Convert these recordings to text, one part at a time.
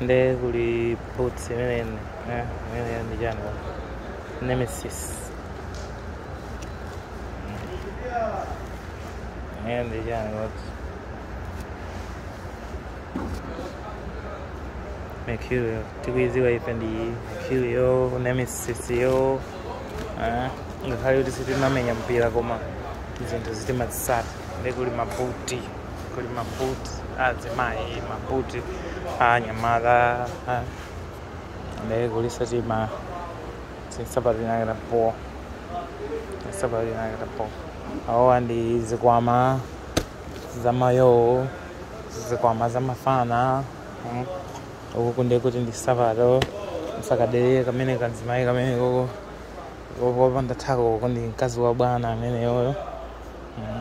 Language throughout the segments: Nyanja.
nde kuli boots imene eh, imene ndi chani Nemeziz imene ndi chani koti mercurial tikuiziwa ife ndi mercurial Nemeziz yo eh, ngakhale kuti sitimamenya mpira koma zinthu timazisata nde kuli mabuti kuli mabuti a azimayi mabuti a anyamata ah. nde kuliso tima nsapato inakata po nsapato inakata po awowa ndi zikwama zamayo o zikwama zamafana mm. uku nde kuti ndi nsapato msakadere kamene kanzimayi kameneko kopanda thako uko ndi mkazi wa bwana ameneyoyo mm.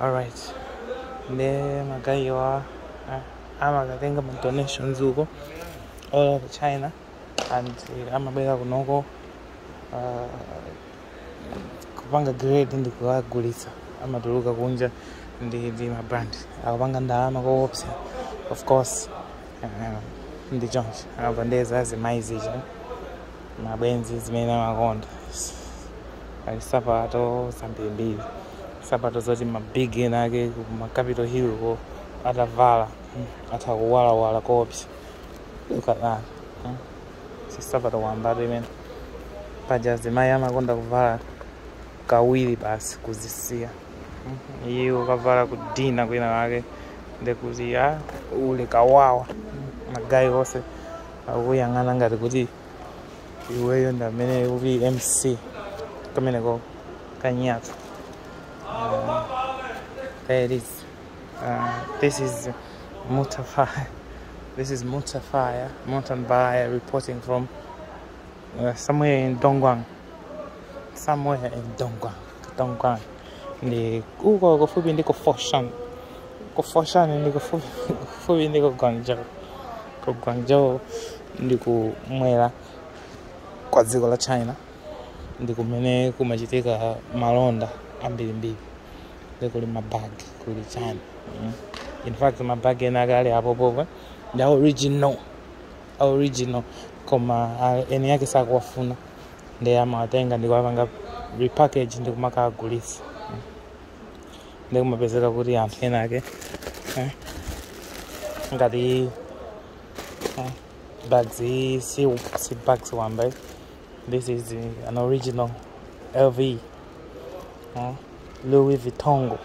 alright nde magayewa eh, amakatenga ma donations uko all over china and eh, amabwera kunoko uh, kupanga grade ndi kuwagulitsa amatuluka kunja ndi ndi mabrand akupanga ndalama koopsa of course eh, ndi choncho apa nde za azimayi zija magwenzi zimene amakonda ali sapato zambirimbiri sapato zoti mabig ena ake kuma capital hill ko atavala mm, atha kuwalawala koopsa look at that mm. si sapato wambatu imene paja zimayi amakonda kuvala kawiri basi kuzisiya Mhm. iwe ukavala ku dinner kwinakwake nde kuti a uli kawawa magaye onse akuyang'ana ngati kuti iweyo ndi amene uli mc kameneko kanyaka uh, there it is uh, this is mutafaya this is mutafaya mutanbaya reporting from uh, somewhere in Dongguan somewhere in Dongguan Dongguan. Ndi uko kufupi ndi ku Foshan. Ku Foshan ndi kufupi ndi ku Guangzhou. Ku Guangzhou ndi kumwera kwa dziko la China. Ndi kumene kumachitika malonda ambirimbiri. Nde kuli mabagi kuli chani. Mm. In fact mabagi enaake ali apopopo ndi original. a original koma eni ake sakuwafuna ndiye amawatenga ndikuwapanga repackage ndikumakawagulisa ndiye kumapezeka kuti anthu ena ake eh, ngati eh, bag iyi si, si bag wamba ayi. this is uh, an original lv Ah, Louis Vuitton.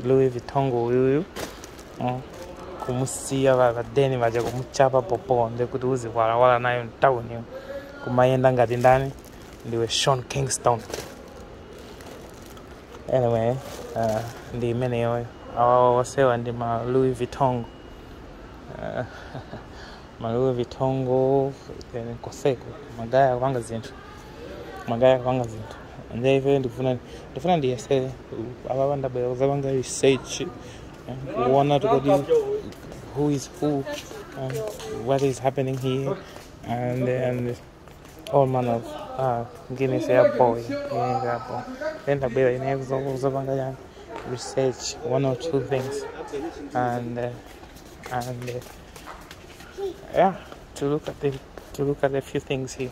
Louis Vuitton uyuyu. Ah, kumusiya vakadeni vaja kumuchapa popo ndekuti uziwalawala nayo mtawuni yo kumayenda ngati ndani ndiwe sean kingston anyway uh, ndi imeneyoyo awawa wasewa ndi ma louis vuitton Ah, ma louis vuitton koseko magaya kupanga zinthu magaya kupanga zinthu nde ife ndifuna ndifuna ndiyesere apapa ndabwera kuzapanga research eh, kuona tikodi who is who um, what is happening here and and all manner of uh, guinness ya boy yeah, ya boy then ndabwera ine kuzo- kuzapanga yani research one or two things and uh, and uh, yeah to look at the to look at a few things here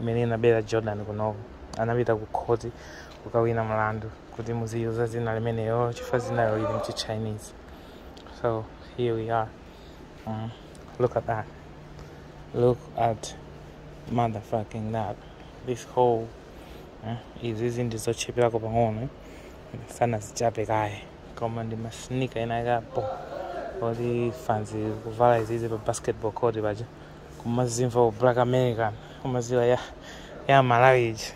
imene inabera Jordan kunoko anapita ku court kukawina mlandu kuti muziyuza dzina limeneyo chifukwa dzinayo ili mchi Chinese. So here we are. Mm. Look at that. Look at motherfucking that. This whole eh, izizi ndizotchipirako pang'ono sanazichape kaye koma ndi masinika ena akapo oti fans kuvala izizi pa basketball court paja kumazimva u black american kumaziwa ya ya malawi iji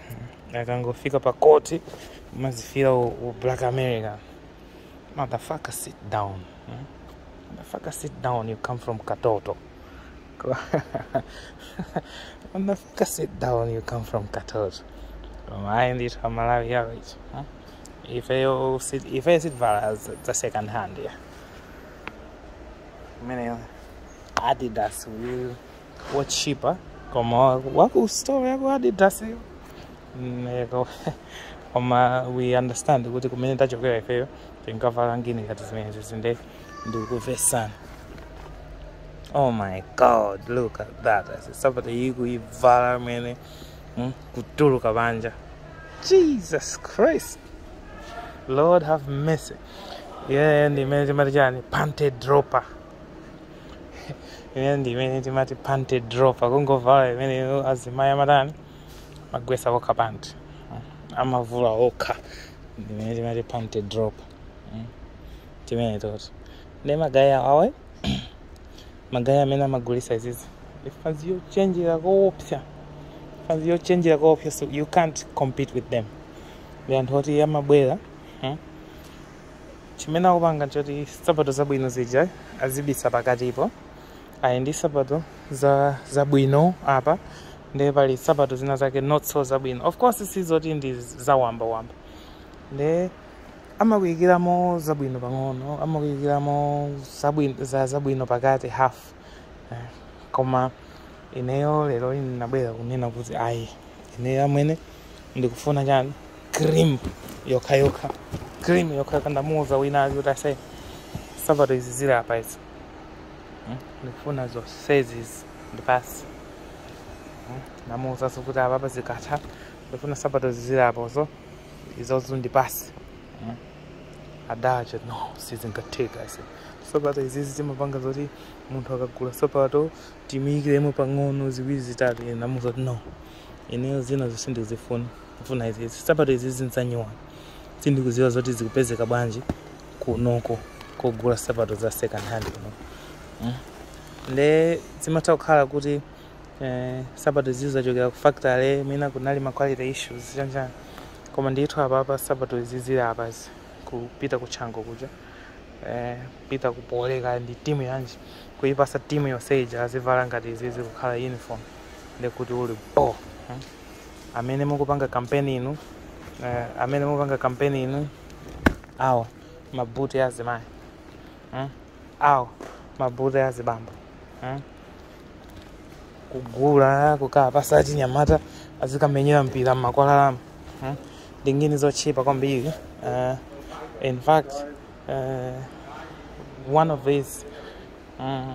akangofika pa court kumazifira u, u black american motherfucker sit down hmm? motherfucker sit down you come from katoto motherfucker sit down you come from katoto mayi ndithu amalawi average hmm? ifeyo sit- ifeyo sitvala za za second hand yeah imeneyo adidas uyu wotchipa koma wakustore yaku adidas koma we understand kuti kumene tachokera ifeyo tinkavala ngini ngati zimenezi nde tikumvetsana oh my god look at that sapato iyi kuivala imene mm, kutuluka panja jesus christ lord have mercy yeah ndimene timati chani panty dropper imene ndi imene timati panty dropper kungovala imeneyo azimayi amatani amagwetsa okha panty Mm. amavula okha ndi imene timati panty dropper Mm. timene toto ndi magaya awa magaya amene amagulisa izizi ifanzi yochenjera koopsa ifanzi yochenjera koopsa so you can't compete with them ndi anthu oti amabwera mm. chimene amapanga nchoti nsapato zabwino zija azibisa pakatipo ayi ndi nsapato zabwino apa ndiye pali nsapato zina zake not so zabwino of course sizoti ndi zawambawamba nde amakuyikiramo zabwino pang'ono amakuyikiramo zabwino pakati half eh, koma ineyo lero ndinabwera kunena kuti ayi ineyo amwene ndikufuna chani cream yokha yokha cream yokha yokha ndamuuza wina ali kuti aise sapato izi zili apa izi Hmm? ndikufuna zonsezi izi ndipase Hmm? ndamuuzanso kuti apa apa zikatha ndikufuna sapato izi zili apozo izozo ndipase Hmm? adati no sizingatheke aise sapato izizi zimapanga zoti munthu akagula sapato timuyikiremo pang'ono ziwiri zitatu ine ndamuuza kuti no ineyo zinazo sindizifuna ndifuna izi izi sapato izi nzanyuwani sindikuziwa zoti zikupezeka bwanji kunoko kogula sapato za second hand kuno mm. nde zimatha kukhala kuti eh, sapato izi zachokera ku factory mwina kunali ma quality issues chanichani koma ndithu apapa sapato izi zili apazi kupita ku chango kuja eh, pita kupoleka ndi timu yanji kuipasa timu yonse ija azivala ngati izi zikukhala uniform ndekuti uli bo hmm? amene mukupanga kampeni inu eh, amene mukupanga kampeni inu awa mabuti a azimayi hmm? awa mabuti a azibambo hmm? kugula kukawapasa achinyamata azikamenyera mpira mmakwalalamu hmm? ndi ngini zotchipa kwambiri uh, in fact uh, one of these um,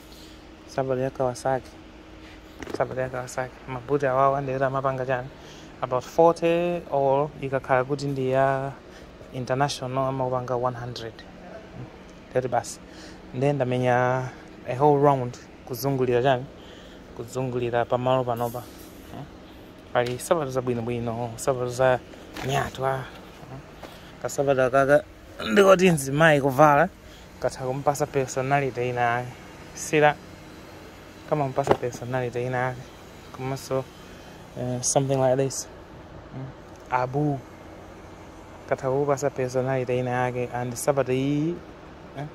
Sapato ya Kawasaki. Sapato ya Kawasaki. Mabuti awawa ndikuti amapanga chani. About 40 or ikakhala kuti ndi ya international amapanga 100. Ndikuti basi. Ndiye ndamenya a whole round kuzungulira chani. Kuzungulira pamalo panopa. Eh? Pali sapato zabwinobwino, sapato za nyatwa. Kasapato kaka ndikoti nzimayi kuvala. katha kumupasa personality ina yake sila kamamupasa personality ina yake komanso eh, something like this Mm. abu katha kukupasa personality ina yake and sapato iyi eh,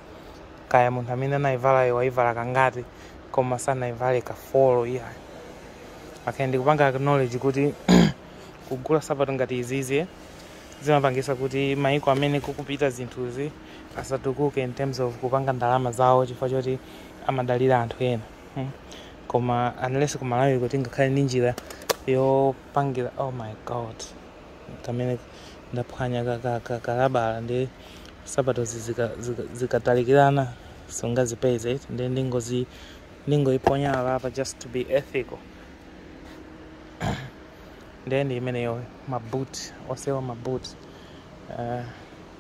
kaya munthu amene anayivalayo wayivala kangati koma sanayivale kafolo iya okay ndikupanga acknowledge kuti kugula sapato ngati izizi zimapangisa kuti maiko amene kukupita zinthuzi asatukuke in terms of kupanga ndalama zawo chifukwa choti amadalira anthu ena hmm? koma unless ku malawi kuti ngakhale ndi njira yopangira oh my god kamene ndaphwanya kalabala nde sapatozi zikatalikirana sungazipeze ndi ndingozi ndingoiponyera apa just to be ethical ndi imeneyo maboot onsewa maboot uh,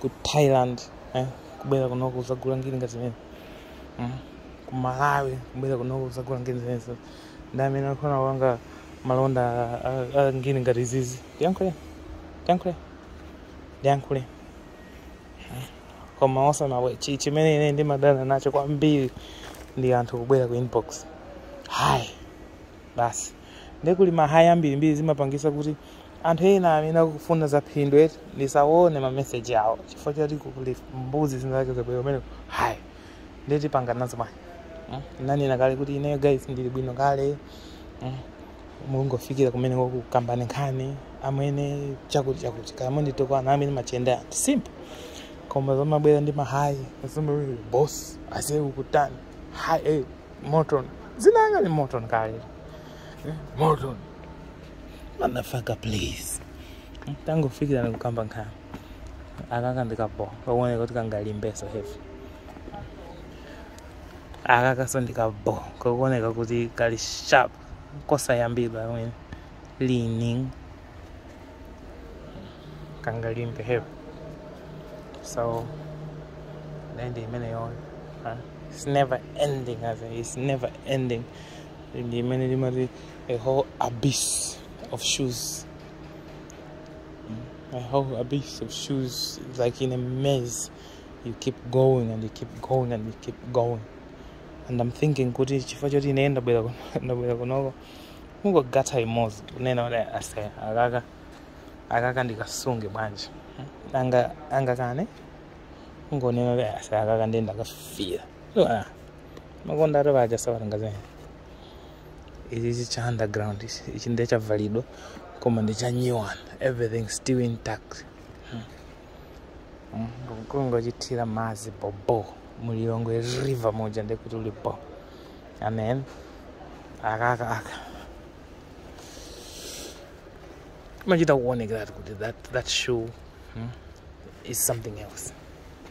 ku thailand eh? kubwera kunoko uzagula ngini ngati zimene mm? kumalawi kubwera kunoko uzagula ngini zimenezo ndi amene akufuna kupanga malonda a- a- a ngini ngati izizi ndiyankhule ndiyankhule ndiyankhule koma osamawe chi- chimene ine ndimadana nacho kwambiri ndi anthu kubwera ku inbox hi basi ndekuli ma hi ambirimbiri zimapangisa kuti anthu ena amene akufuna za phindu eti ndisaone ma message awo chifukwa choti kuli mbuzi zinazake zabwera kumene hi ndeti panga nazo manje mm? ndinanena kale kuti ineyo guys ndili bwino kale mm? mungofikira kumene kukamba nkhani amene chakuti chakuti kaya munditokwana amene machende anthu simple koma zomabwera ndi ma hi zomabwera boss ase ukutani hi eh, morton dzina langa ndi morton kale eh, morton motherfucker please tangofikirani kukamba nkhani akaka ndi kabho kakuoneka kuti kangalimbeso heavy akaka so ndi kabho kakuoneka kuti kali sharp kosayambidwa amene leaning kangalimbe heavy so lendi imeneyo it's never ending as in, it's never ending ndi imene limati a whole abyss of shoes. Mm, a whole abyss of shoes, like in a maze. You keep going and you keep going and you keep going. And I'm thinking, kuti chifukwa choti ine ndabwera kuno- ndabwera kunoko ungogatha imodzi kunena kuti ase akaka akaka ndikasunge bwanji anga anga kane ungonena kuti ase akaka ndiye ndakafira makonda ati vaja savatangazeni ichichi cha underground ichi ichi ndiye chavalidwa koma ndi cha new one everything still intact kungochithira madzi bhobho mu lilongwe river muja ndiye kuti uli bho and then akaka aka imachita kuonekeratu kuti that, that shoe hmm, is something else